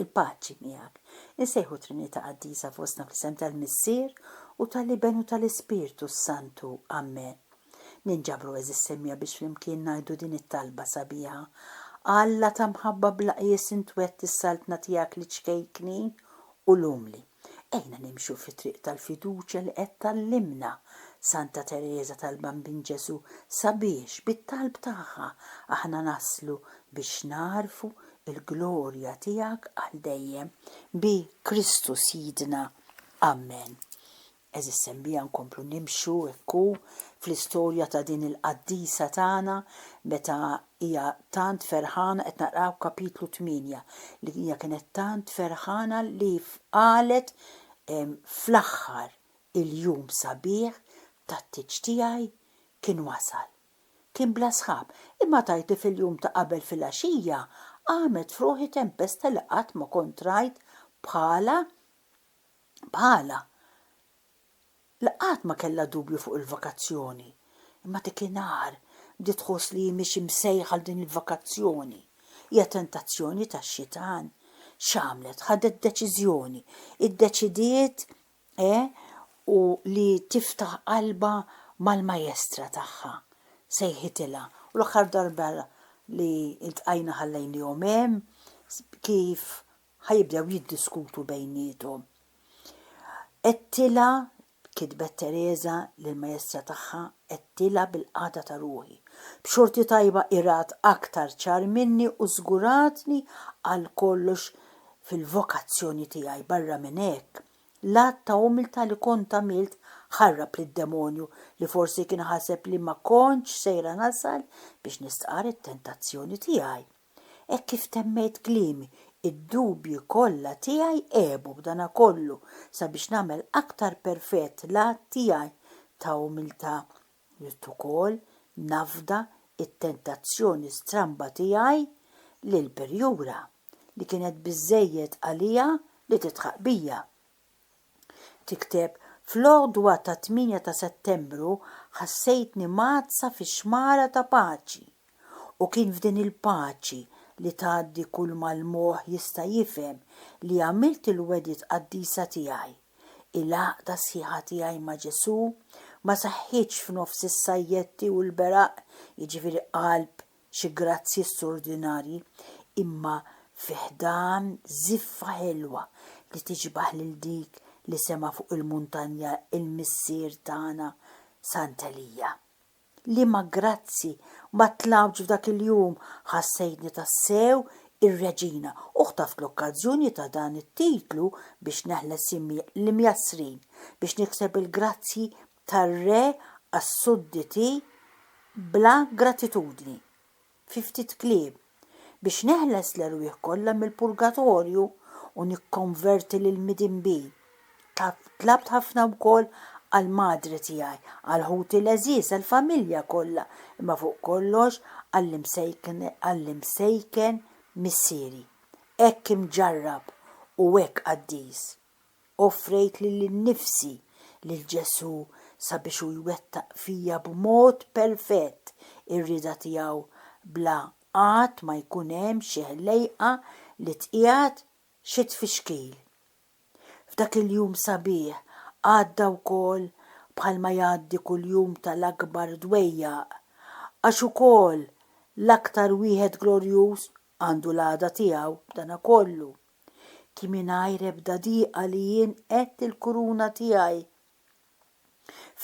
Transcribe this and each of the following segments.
Il-paċi miegħek. Insejħu Trinità Qaddisa fostna fl-isem tal-Missier u tal-Iben u tal-Ispirtu s-Santu. Amen. Ninġabru għeżież semmiegħa biex flimkien ngħidu din it-talba sabiħa, Alla ta' mħabba bla qies int wegħdt is-Saltna tiegħek liċ-ċkejknin u l-umli. Ejna nimxu fit-triq tal-fiduċja li qed tgħallimna Santa Tereża tal-Bambin Ġesù sabiex, bit-talb tagħha, aħna naslu biex nagħrfu l-glorja tiegħek għal dejjem, bi Kristu Sidna. Amen. Għeżież sembija nkomplu nimxu hekk hu fl-istorja ta' din il-qaddisa tagħna meta hija tant ferħana qed naqraw kapitlu tmienja li hija kienet tant ferħana li qalet fl-aħħar il-jum sabiħ tat-tieġ tiegħi kien wasal. Kien bla sħab, imma tgħid li fil-jum ta' qabel filgħaxija qamet f'ruħi tempesta li qatt ma kont rajt bħalha bħalha li qatt ma kellha dubju fuq il-vakazzjoni, imma dikinhar bdiet tħoss li hi mhix imsejjħa għal din il-vakazzjoni. Hija tentazzjoni tax-xitan. X'għamlet? Ħadet deċiżjoni. Iddeċidiet e u li tiftaħ qalbha mal-Majestra tagħha. Sejħitilha. U l-aħħar darba li ltqajna ħallejnihom hemm kif ħa jibdew jiddiskutu bejniethom. Għedtilha, kitbet Tereża lill-maestra tagħha, għedtilha bil-qagħda ta' ruħi. B'xorti tajba hi rat aktar ċar minni u żguratni għal kollox fil-vokazzjoni tiegħi. Barra minn hekk, l-att ta' umiltà li kont għamilt ħarrab lid-demonju li forsi kien ħaseb li ma kontx sejra nasal biex nistqarr it-tentazzjoni tiegħi. Hekk kif temmejt kliemi, id-dubji kollha tiegħi għebu b'danakollu sabiex nagħmel aktar perfett l-att tiegħi ta' umiltà. Ridt ukoll nafda t-tentazzjoni stramba tiegħi li l-perjura, li kienet biżżejjed għaliha li tidħaq bija, Tikteb, Fl-għodwa tat-tmienja ta' Settembru ħassejtni mgħaddsa fi xmara ta' paċi. U kien f'din il-paċi li tgħaddi kulma l-moħħ jista' jifhem li għamilt il-wegħdiet qaddisa tiegħi. Il-għaqda sħiħa tiegħi ma' Ġesù ma saħħitx f'nofs is-sajjetti u l-beraq, jiġifieri qalb xi grazzji stordinarji, imma fi ħdan żiffa ħelwa li tiġbaħ lil dik li sema' fuq il-muntanja l-Missier tagħna Sant Elija. Liema grazzji ma tlgħux f'dak il-jum ħassejtni tassew ir-Reġina u ħtaft l-okkażjoni ta' dan it-titlu biex neħles l-imjassrin, biex nikseb il-grazzji tar-re għas-sudditi bla gratitudni, fi ftit kliem, biex neħles l-erwieħ kollha mill-purgatorju u nikkonverti lill-midinbin. Tlabt ħafna wkoll għall-madre tiegħi, għal ħuti l-għeżież, għall-familja kollha, imma fuq kollox għall-imsejken missieri. Hekk imġarrab u hekk qaddis. Offrejt lili nnifsi lil Ġesù sabiex hu jwettaq fija b'mod perfett ir-rieda tiegħu bla qatt ma jkun hemm xi ħlejqa li tqiegħed xi tfixkil. F'dak il-jum sabiħ għadda wkoll bħalma jgħaddi kull jum tal-akbar dwejjaq, għax ukoll l-aktar wieħed glorjuż għandu l-għada tiegħu b'dana kollu. Kien mingħajr ebda diqa li jien għedt il-kuruna tiegħi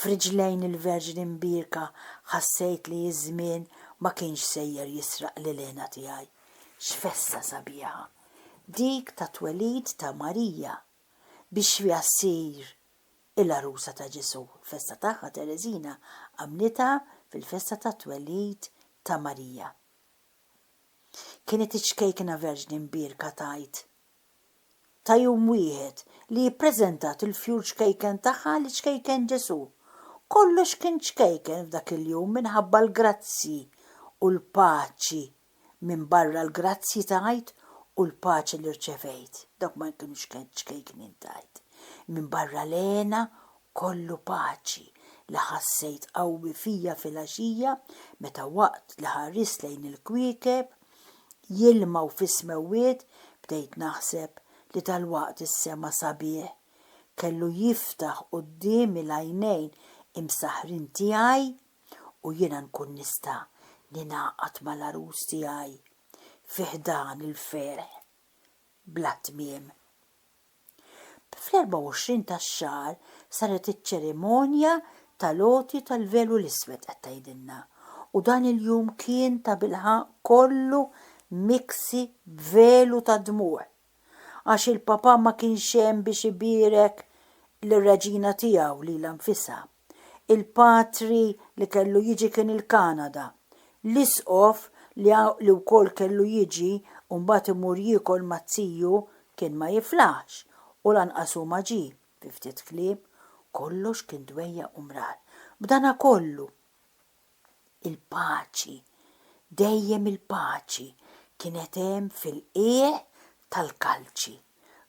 f'riġlejn il-Verġni Mbierka ħassejt li ż-żmien ma kienx sejjer jisraq l-ilena tiegħi. X'festa sabiħa dik tat-twelid ta' Marija biex fiha ssir il-għarusa ta' Ġesù. Il-festa tagħha Tereżina għamlitha fil-festa tat-twelid ta' Marija. Kienet iċ-ċkejkna Verġni Mbierka tgħid ta' jum wieħed li ippreżentat il-fjur ċkejken tagħha li ċkejken Ġesù. Kollox kien ċkejken f'dak il-jum minħabba l-grazzji u l-paċi minbarra l-grazzji tajt u l-paċi li rċevejt, dawk ma kinux ċkejknin tajt, minbarra l-hena Kollu paċi li ħassejt qawwi fija filgħaxija meta waqt li ħarist lejn il-kwiekeb jilmgħu fis-smewwiet bdejt naħseb li dalwaqt is-sema sabiħ kellu jiftaħ quddiemi l-għajnejn imsaħħrin tiegħi u jiena nkun nista' ningħaqad mal-għarus tiegħi fi ħdan il-ferħ bla tmiem. Fl-24 tax-xahar saret iċ-ċerimonja tal-għoti tal-velu l-iswed qed tgħidilna, u dan il-jum kien tabilħaqq kollu miksi b'velu tad-dmugħ, għax il-Papa ma kienx hemm biex ibierek lir-Reġina tiegħu lilha nfisha. Il-patri li kellu jiġi kien il-Kanada. L-isqof li wkoll kellu jiġi u mbagħad imur jiekol maz-ziju kien ma jiflaħx u lanqas hu ma ġie. Fi ftit kliem, kollox kien dwejjaq u mrar. B'danakollu, Il-paċi, dejjem il-paċi kienet hemm fil-qiegħ tal-kalċi.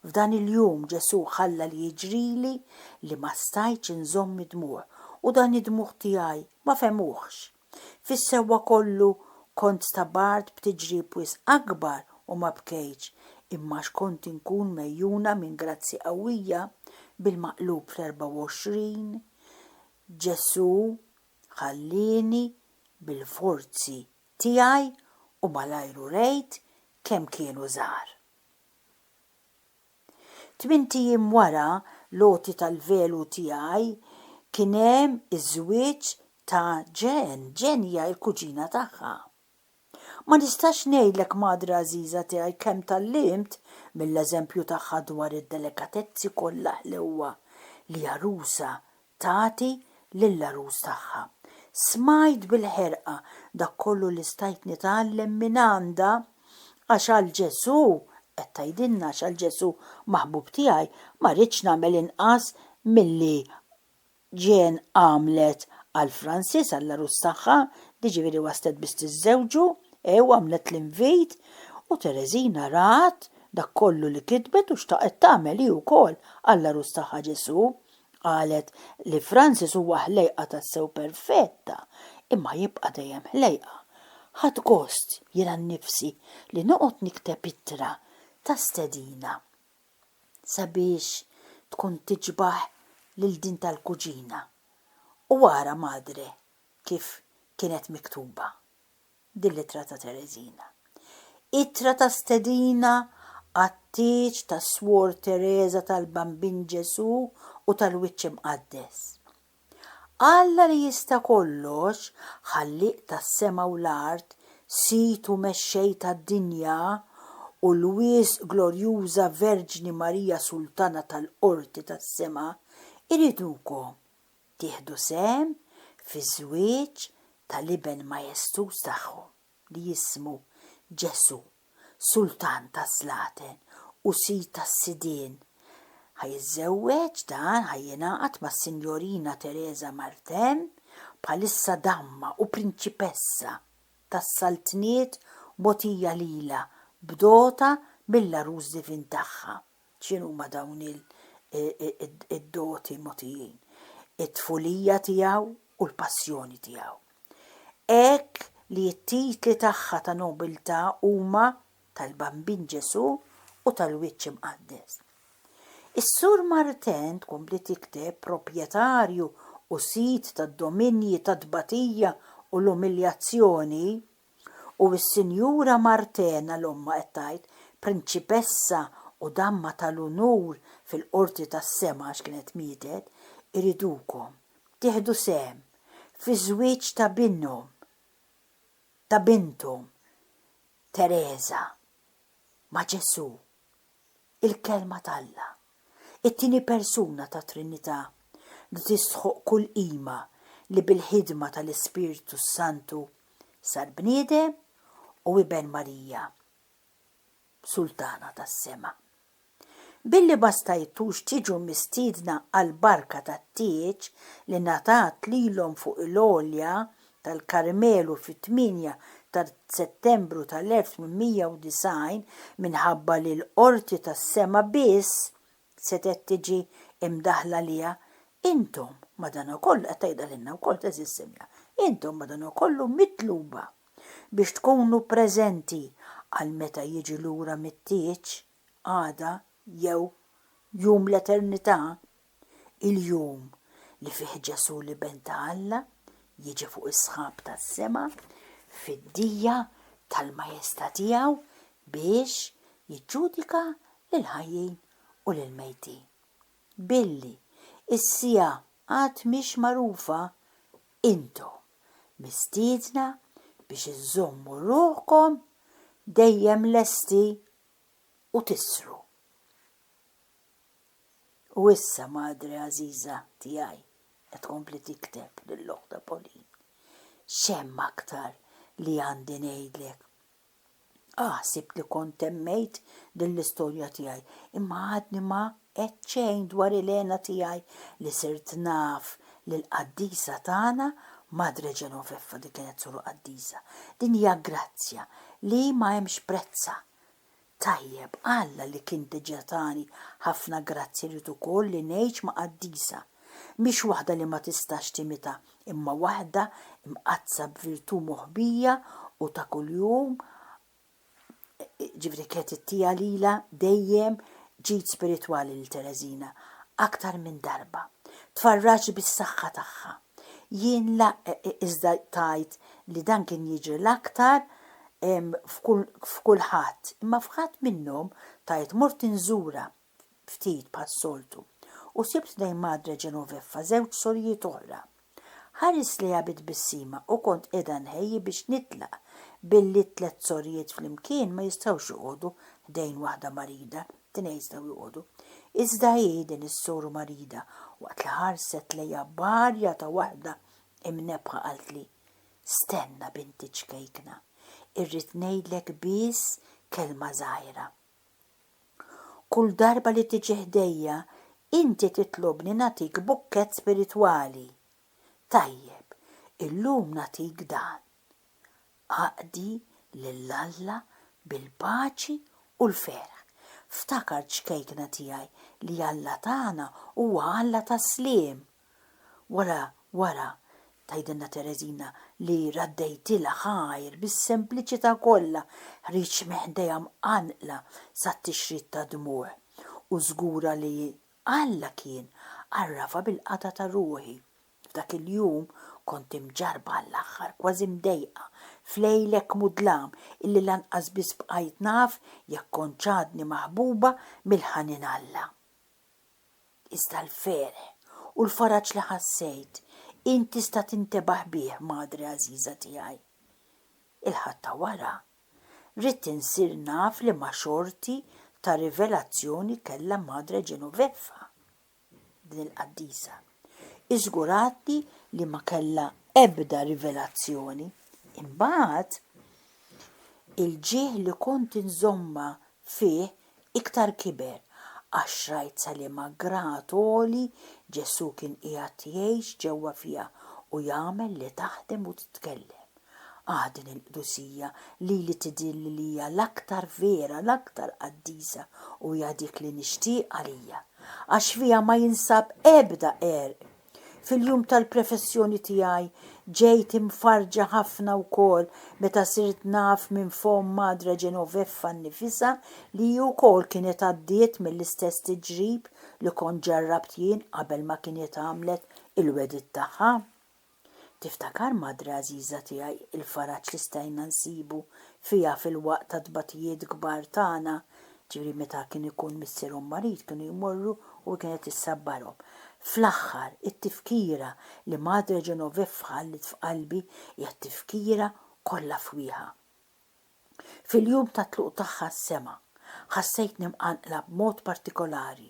F'dan il-jum Ġesù ħalla li jiġrili li ma stajtx inżomm id-dmugħ u dan id-dmugħ tiegħi ma fehmuhx. Fis-sewwa kollu kont stabart b'tiġrib wisq akbar u ma bkejtx, imma għax kont inkun megħjuna minn grazzji qawwija, bil-maqlub fl-24, Ġesù ħallieni bil-forzi tiegħi u malajr urejt kemm kienu żgħar. Tmint ijiem wara l-għoti tal-velu tiegħi kien hemm iż-żwieġ ta' Jen, Jen hija l-kuġina tagħha. Ma nistax ngħidlek madre għażiża tiegħi kemm tgħallimt mill-eżempju tagħha dwar id-delikatezzi kollha ħlewwa li għarusa tagħti lill-għarus tagħha. Smajt bil-ħerqa dak kollu li stajt nitgħallem mingħandha għax għal Ġesù, qed tgħidilna għax għal Ġesù maħbub tiegħi ma rridx nagħmel inqas milli Jeanne għamlet għal Francis, għall-għarus tagħha, jiġifieri waslet biex tiżżewġu, hu għamlet l-invit, u Tereżina rat dak kollu li kitbet u xtaqet tagħmel hi wkoll għall-għarus tagħha Ġesù. Qalet li Francis huwa ħlejqa tassew perfetta, imma jibqa' dejjem ħlejqa. Ħadt gost jiena nnifsi li noqgħod nikteb ittra ta' stedina sabiex tkun tiġbaħ lil din tal-kuġina u ara madre kif kienet miktuba din l-ittra ta' Tereżina. Ittra ta' stedina għat-tieġ ta' Swor Tereża tal-Bambin Ġesù u tal-Wiċċ Imqaddes. Alla li jista' kollox, Ħallieq tas-sema u l-art, Sid u Mexxej tad-dinja, u l-wisq glorjuża Verġni Marija Sultana tal-qorti tas-sema, iridukom tieħdu sehem fiż-żwieġ tal-Iben majestuż tagħhom. li jismu Ġesù, Sultan tas-slaten u Sid tas-sidien, ħa jiżżewweġ dan, ħa jingħaqad mas-Sinjorina Teresa Martem, bħalissa damma u prinċipessa tas-saltniet mogħtija lilha b'dota mill-Għarus Divin tagħha. x'inhuma dawn id-doti mogħtijin, it-tfulija tiegħu u l-passjoni tiegħu. Hekk li t-titli tagħha ta' nobiltà huma tal-Bambin Ġesù u tal-Wiċċ Imqaddes. Is-Sur Martin tkompli tikteb proprjetarju u sid tad-dominji tat-tbatija u l-umiljazzjoni, U s-Sinjura Martena, l-ommha qed tgħid, prinċipessa u damma tal-unur fil-Qorti tas-Sema għax kienet mietet, iridukom tieħdu sehem fiż-żwieġ ta' binhom, ta' binthom, Tereża, ma' Ġesù. il-Kelma t'Alla, it-tieni persuna tat-Trinità, li tistħoqq kull qima, li bil-ħidma tal-Ispirtu s-Santu sar bniedem u iben Marija, Sultana tas-sema. Billi ma stajtux tiġu mistiedna għall-barka tat-tieġ li ngħatat lilhom fuq il-għolja tal-Karmelu fit-8 ta' Settembru tal-1890 minħabba li l-qorti tas-sema biss setgħet tiġi mdaħħla għaliha, intom, madankollu, qed tgħidha lilna wkoll t'għeżież Silja, intom madankollu mitluba biex tkunu preżenti għal meta jiġi lura mit-tieġ, għada jew jum l-eternità, il-jum li fih Ġesù l-Iben ta' Alla jiġi fuq is-sħab tas-sema fid-dija tal-majesta' tiegħu biex jiġġudika lill-ħajjin u lill-mejtin. Billi s-siegħa għad mhix magħrufa, intom mistiedna biex iżżommu ruħkom dejjem lesti u tisru. U issa madre għażiża tiegħi, qed tkompli tikteb lill-oħtha Pauline, x'hemm aktar li għandi ngħidlek? Ah, ħsibt li kont temmejt din l-istorja tiegħi, imma għadni ma għedt xejn dwar il-hena tiegħi li sirt naf lill-qaddisa tagħna Madre Genoveffa, din kienet sura qaddisa. Din hija grazzja li ma hemmx prezzha, Tajjeb, Alla li kien diġà tani ħafna grazzji jrid ukoll li ngħix ma' qaddisa. Mhix waħda li ma tistax timita, imma waħda mqaddsa b'virtù moħbija u ta' kuljum, jiġifieri kienet it-tija lilha dejjem ġid spiritwali lil Tereżina, aktar minn darba. Tfarraġt bis-saħħa tagħha. Jien la iżda tgħid li dan kien jiġri l-aktar f'kulħadd, imma f'ħadd minnhom tgħid mort inżura ftit bħas-soltu u sibt lejn Madre Genoveffa żewġ sorijiet oħra. Ħarist lejha bi tbissima u kont qiegħda nħejji biex nitlaq billi t-tliet sorijiet flimkien ma jistgħux joqogħdu ħdejn waħda marida. Tnejn stgħu joqogħdu. Iżda hi, din is-soru marida, waqt li ħarset lejha b'għarja ta' waħda imnebbħa qaltli, Stenna, binti ċkejkna, irrid ngħidlek biss kelma żgħira. Kull darba li tiġi ħdejja, inti titlobni nagħtik bukkett spiritwali. Tajjeb, illum nagħtik dan. Aqdi lil Alla bil-paċi u l-ferħ. Ftakar ċkejkna tiegħi li Alla tagħna huwa Alla tas-sliem. Wara, wara, tgħidilna Tereżina li raddejtilha ħajr bis-sempliċità kollha, ħriġt minn ħdejha mqanqla sat-tixrid tad-dmugħ u żgura li Alla kien għarrafha bil-qatgħa ta' ruħi. F'dak il-jum kont imġarrba għall-aħħar, kważi mdejqa, f'lejl hekk mudlam illi lanqas biss bqajt naf jekk kontx għadni maħbuba mill-ħanin Alla. Iżda l-ferħ u l-faraġ li ħassejt, int tista' tintebaħ bih, madre għażiża tiegħi. Il-Ħadd ta' wara, ridt insir naf liema xorti ta' rivelazzjoni kellha Madre Genoveffa. din il-qaddisa. Hi żguratni li ma kellha ebda rivelazzjoni. Imbagħad, il-ġieħ li kont inżommha fih iktar kiber, għax rajt sa liema grad għoli Ġesù kien qiegħed jgħix ġewwa fiha u jagħmel li taħdem u titkellem. Ah, din il-qdusija lili tidhir li hija l-aktar vera, l-aktar qaddisa u hija dik li nixtieq għalija, għax fiha ma jinsab ebda għerq. Fil-jum tal-prefessjoni tiegħi ġejt imfarrġa ħafna wkoll meta sirt naf minn fomm Madre Genoveffa nnifisha li hi wkoll kienet għaddiet mill-istess tiġrib li kont ġarrabt jien qabel ma kienet għamlet il-wegħdiet tagħha. Tiftakar madre għażiża tiegħi il-faraġ li stajna nsibu fiha fil-waqt tat-tbatijiet kbar tagħna, ġifieri meta kien ikun missierhom marid kienu jmorru u hi kienet issabbarhom. Fl-aħħar, it-tifkira li madre Genoveffa ħalliet f'qalbi hija t-tifkira kollha fwieħa. Fil-jum tat-tluq tagħha s-sema, ħassejtni mqanqla b'mod partikolari.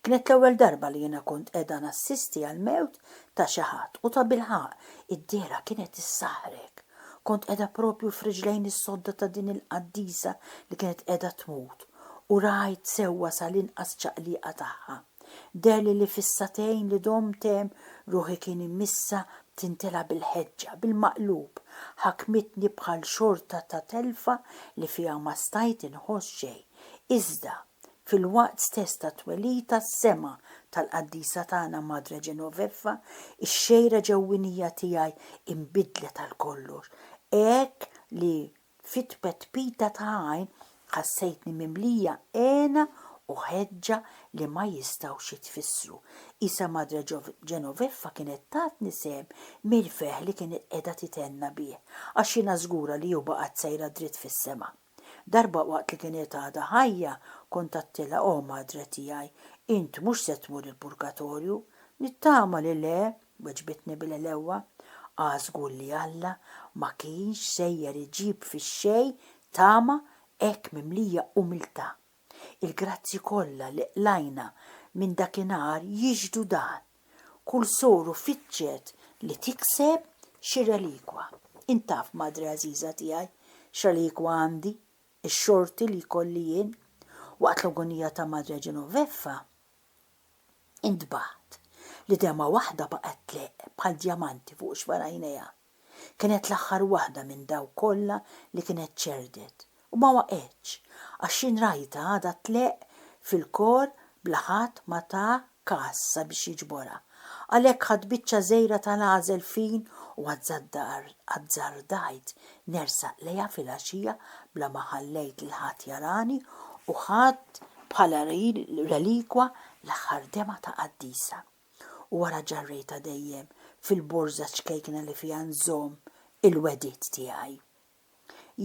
Kienet l-ewwel darba li jiena kont qiegħda nassisti għall-mewt ta' xi ħadd u tabilħaqq, id-dehra kienet issaħħrek. Kont qiegħda proprju f'riġlejn is-sodda ta' din il-qaddisa li kienet qiegħda tmut u rajt sewwa sal-inqas ċaqliqa tagħha. Deherli li fis-sagħtejn li domt hemm, ruħi kien imissha b'tintela bil-ħeġġa, bil-maqlub, ħakmitni bħal xorta ta' telfa li fiha ma stajt inħoss xejn. Iżda, fil-waqt stess tat-twelid tas-sema tal-qaddisa tagħna Madre Genoveffa, ix-xejra ġewwinija tiegħi inbidlet għal kollox, hekk li Fit-tpetpita ta' għajn ħassejtni mimlija hena u ħeġġa li ma jistgħux jitfissru. Qisha Madre Genoveffa kienet tatni sehem mill-ferħ li kienet qiegħda titenna bih, għax jiena żgura li u baqgħet sejra dritt fis-sema. Darba waqt li kienet għadha ħajja, kont għedtilha, O Madre tiegħi, int mhux se tmur il-purgatorju? Nittama li le! Weġbitni bil-għelewwa, Ah żgur li Alla ma kienx sejjer iġib fix-xejn tama hekk mimlija umiltà. Il-grazzji kollha li qlajna minn dakinhar jixhdu dan. Kull soru fittxet li tikseb xi relikwa. Int taf, Madre għażiża tiegħi, x'relikwa għandi, ix-xorti li jkolli jien. Waqt l-agonija ta' Madre Genoveffa, Intbaħt. L-idema waħda baqgħet tleqq bħal djamanti fuq xfar għajnejha. Kienet l-aħħar waħda minn dawk kollha li kienet ċerdet. U ma waqgħetx, għax jien rajtha għadha tleqq fil-kor bla ħadd ma ta każ sabiex jiġborha. Għalhekk ħadt biċċa żgħira ta' l-għażel fin u azzardajt nersaq lejha filgħaxija bla ma ħallejt lil ħadd jarani u ħadt bħala relikwa l-aħħar demgħa ta' qaddisa. U wara ġarrejtha dejjem fil-borża ċkejkna li fiha nżomm il-wegħdiet tiegħi.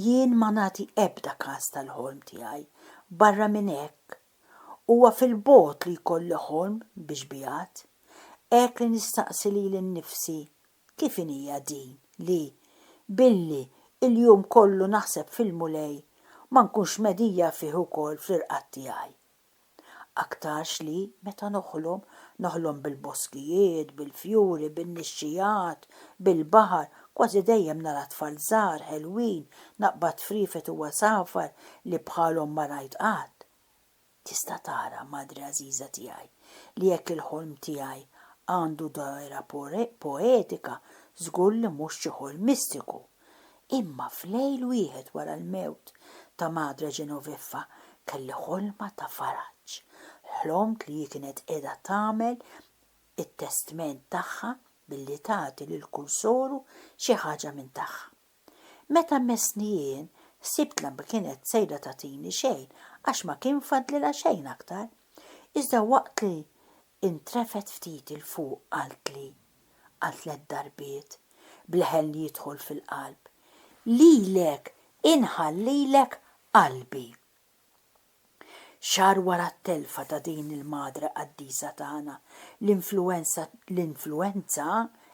Jien ma nagħti ebda kas tal-ħolm tiegħi. Barra minn hekk Huwa fil-bogħod li jkolli ħolm bi xbiehat, hekk li nistaqsi lili nnifsi kif inhija din li, billi l-jum kollu naħseb fil-Mulej, ma nkunx mhedija fih ukoll fl-irqad tiegħi. Aktarx li, meta noħlom, noħlom bil-boskijiet, bil-fjuri, bin-nixxigħat, bil-baħar, Kważi dejjem nara tfal żgħar, ħelwin, naqbad friefet u għasafar li bħalhom ma rajt qatt. Tista' tara, Madre għażiża tiegħi, li jekk il-ħolm tiegħi għandu dgħajra poetika, żgur li mhux xi ħolm mistiku. Imma f'lejl wieħed wara l-mewt ta' Madre Genoveffa kelli ħolma ta' faraġ. Ħlomt li hi kienet qiegħda tagħmel it-testment tagħha billi tagħti lil kull soru xi ħaġa minn tagħha. Meta messni jien, ħsibtla ma kienet sejra tagħtini xejn għax ma kien fadlilha xejn aktar. Iżda waqt li ntrefgħet ftit 'il fuq qaltli, għal tliet darbiet, b'leħen li jidħol fil-qalb, Lilek inħallilek qalbi. Xahar wara t-telfa ta' din il-Madre Qaddisa tagħna, l-influwenza, l-influwenza,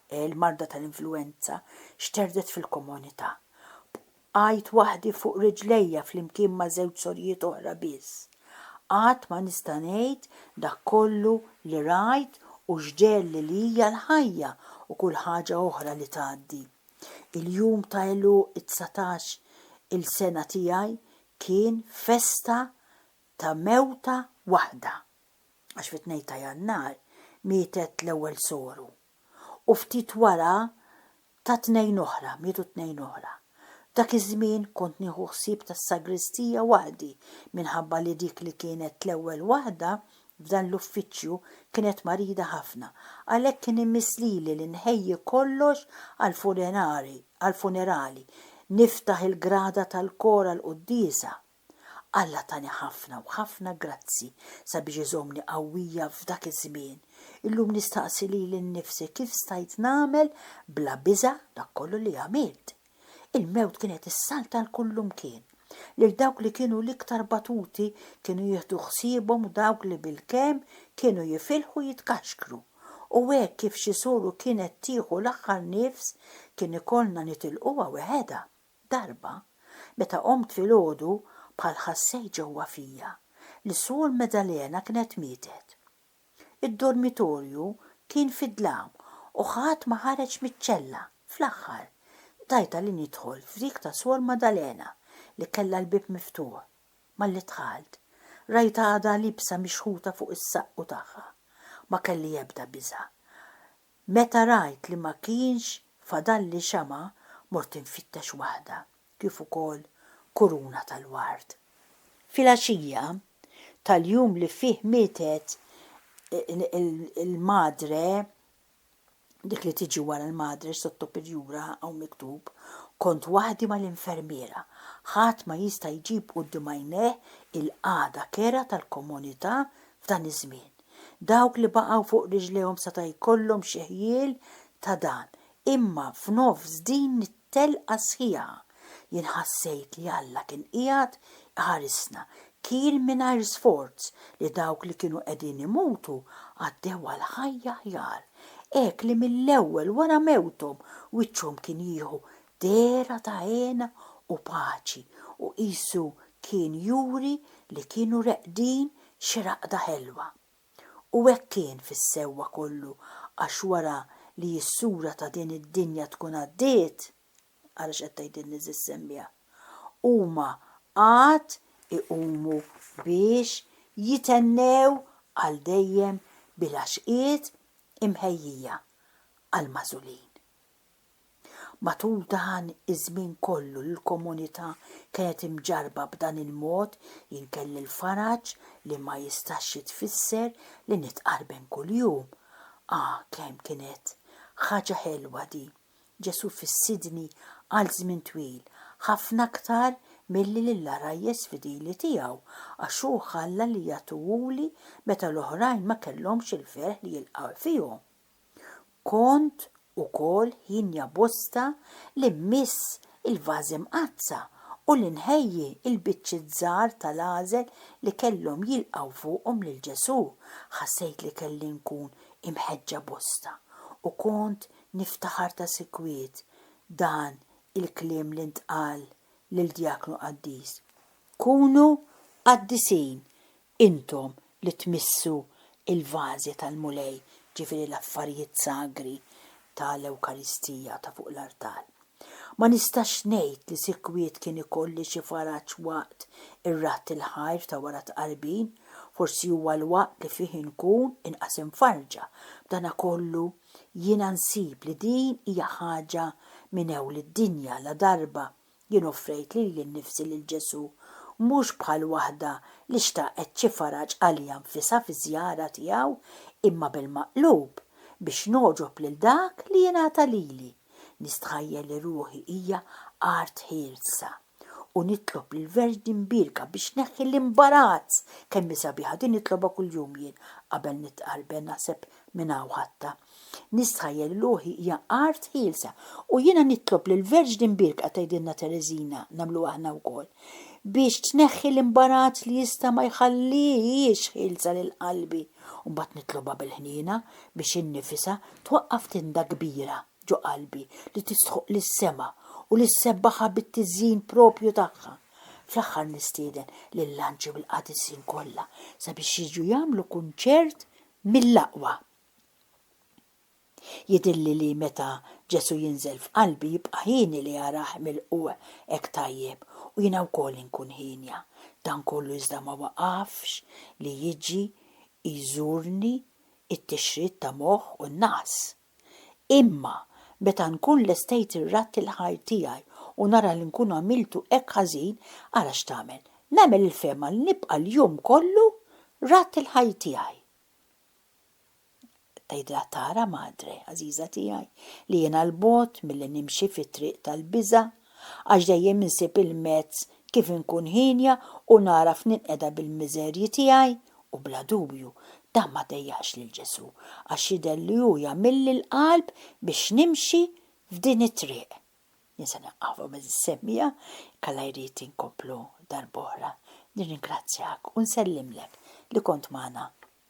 eh, il-marda tal-influwenza, xterdet fil-komunità. Bqajt waħdi fuq riġlejja flimkien ma' żewġ sorijiet oħra biss. Qatt ma nista' ngħid dak kollu li rajt u x'ġegħelli li hija l-ħajja u kull ħaġa oħra li tgħaddi. Il-jum ta' għeluq it-dsatax-il sena tiegħi Kien festa ta' mewta waħda, għax fit-tnejn ta' Jannar mietet l-ewwel soru, u ftit wara ta' tnejn oħra, mietu tnejn oħra. F'dak iż-żmien kont nieħu ħsieb tas-sagristija waħdi minħabba li dik li kienet l-ewwel waħda F'dan l-uffiċċju kienet marida ħafna, għalhekk kien imiss lili li nħejji kollox għall-funerali, niftaħ il-grada tal-kor għall-quddiesa. Alla tani ħafna u ħafna grazzi sabiex iżommni qawwija f'dak iż-żmien. Illum nistaqsi lili nnifsi kif stajt nagħmel bla biża' dak kollu li għamilt. Il-mewt kienet issalta 'l kullimkien. Lil dawk li kienu l-iktar batuti kienu jieħdu ħsiebhom dawk li bilkemm kienu jifilħu jitkaxkru. U hekk kif xi suru kienet tieħu l-aħħar nifs, kien ikollna nitilquha weħedha. Darba, meta qomt filgħodu, bħal ħassejt ġewwa fija, li Sur Maddalena kienet mietet. Id-dormitorju kien fid-dlam u ħadd ma ħareġ miċ-ċella. Fl-aħħar, tajtha li nidħol f'dik ta' Suor Maddalena li kellha l-bieb miftuħ. Malli dħalt, rajtha għadha liebsa mixħuta fuq is-saqqu tagħha. Ma kelli ebda biża'. Meta rajt li ma kienx fadalli xama', mort infittex waħda. kif ukoll kuruna tal-ward. Filgħaxija tal-jum li fih mietet il-madre, dik li tiġi wara l-madre, sotto pirjura hawn miktub, kont waħdi mal-infermiera. Ħadd ma jista' jġib quddiem għajnejh il-qagħda kerha tal-komunità f'dan iż-żmien. Dawk li baqgħu fuq riġlejhom seta' jkollhom xi ħjiel ta' dan, imma f'nofs din Telqa sħiħa. Jien ħassejt li Alla kien qiegħed iħarisna. Kien mingħajr sforz li dawk li kienu qegħdin imutu għaddew għal ħajja aħjar. Hekk li mill-ewwel wara mewthom wiċċhom kien jieħu dehra ta' hena u paċi u qisu kien juri li kienu reqdin xi raqda ħelwa. U hekk kien fis-sewwa kollu għax wara li s-sura ta' din id-dinja tkun għaddiet, ara x'qed tgħidilni Sis Sembja, huma għad iqumu biex jitennew għal dejjem bil-għaxqiet imħejjija għall-magħżulin. Matul dan iż-żmien kollu li l-komunità kienet imġarrba b'dan il-mod, jien kelli l-faraġ li ma jistax jitfisser li nitqarben kuljum. Ah, kemm kienet ħaġa ħelwa din! Ġesù fissirni għal żmien twil, ħafna aktar milli lill-għarajjes fidili tiegħu, għax hu ħalla li jagħtuhuli meta l-oħrajn ma kellhomx il-ferħ li jilqgħu fihom. Kont ukoll ħinja bosta li mmiss il-vażi mqaddsa u li nħejji l-biċċiet żgħar tal-għażel li kellhom jilqgħu fuqhom lil Ġesù. Ħassejt li kelli nkun imħeġġa bosta u kont niftaħar ta' sikwit dan il-kliem li ntqal lil djaknu qaddis, Kunu qaddisin Intom li tmissu l-vażi tal-Mulej, jiġifieri l-affarijiet sagri ta' l-Ewkaristija ta' fuq l-artal. Ma nistax ngħid li sikwit kien ikolli xi faraġ waqt ir-raħt il-ħajr ta' wara t-Tqarbin, forsi huwa l-waqt li fih inkun inqas imfarrġa, b'danakollu jiena nsib li din hija ħaġa minn ewl id-dinja ladarba Jien offrejt lili nnifsi lil Ġesù, mhux bħal waħda li xtaqet xi faraġ għaliha nfisha fiż-żjara tiegħu, imma bil-maqlub, biex nogħġob lil dak li jingħata lili. Nistħajjel li ruħi hija art ħielsa, u nitlob lill-Verġni Mbierka biex tneħħi l-imbarazz! Kemm hi sabiħa din nitlobha kuljum jien qabel nitqarben, naħseb minn hawn ħadtha. Nistħajjel ruħi hija art ħielsa u jiena nitlob lill-Verġni Mbierka tgħidilna Tereżina nagħmlu aħna wkoll, biex tneħħi l-imbarazz li jista' ma jħallihiex ħielsa lil qalbi u mbagħad nitlobha bil-ħniena biex hi nnifisha twaqqaf tinda kbira ġo qalbi li tistħoqq lis-sema u li ssebbaħha bit-tiżjin proprju tagħha. Fl-aħħar nistieden lill-anġli u l-qaddisin kollha sabiex jiġu jagħmlu kunċert mill-aqwa. Jidhirli li meta Ġesù jinżel f'qalbi jibqa' hieni li arah milqugħ hekk tajjeb u jiena wkoll inkun hienja. Dan kollu iżda ma waqafx li jiġi jżurni t-tixrid ta' moħħ u n-naqs. Imma meta nkun lestejt ir-radd il-ħajr tiegħi u nara li nkun għamiltu hekk ħażin, ara x'tagħmel, nagħmel il-fehma li nibqa' l-jum kollu radd il-ħajr tiegħi. Tgħidilha tara, Madre, għażiża tiegħi, li jiena 'l bogħod milli nimxi fit-triq tal-biża', għax dejjem insib il-mezz kif inkun hienja u nagħraf ninqeda bil-miżerji tiegħi, u bla dubju, dan ma dejjaqx lil Ġesù, għax jidher li hu jagħmilli l-qalb biex nimxi f'din it-triq. Jien se nieqaf hawn għażiż semmiegħa, jekk Alla jrid inkomplu darb'oħra. Nirringrazzjak u nsellimlek li kont magħna.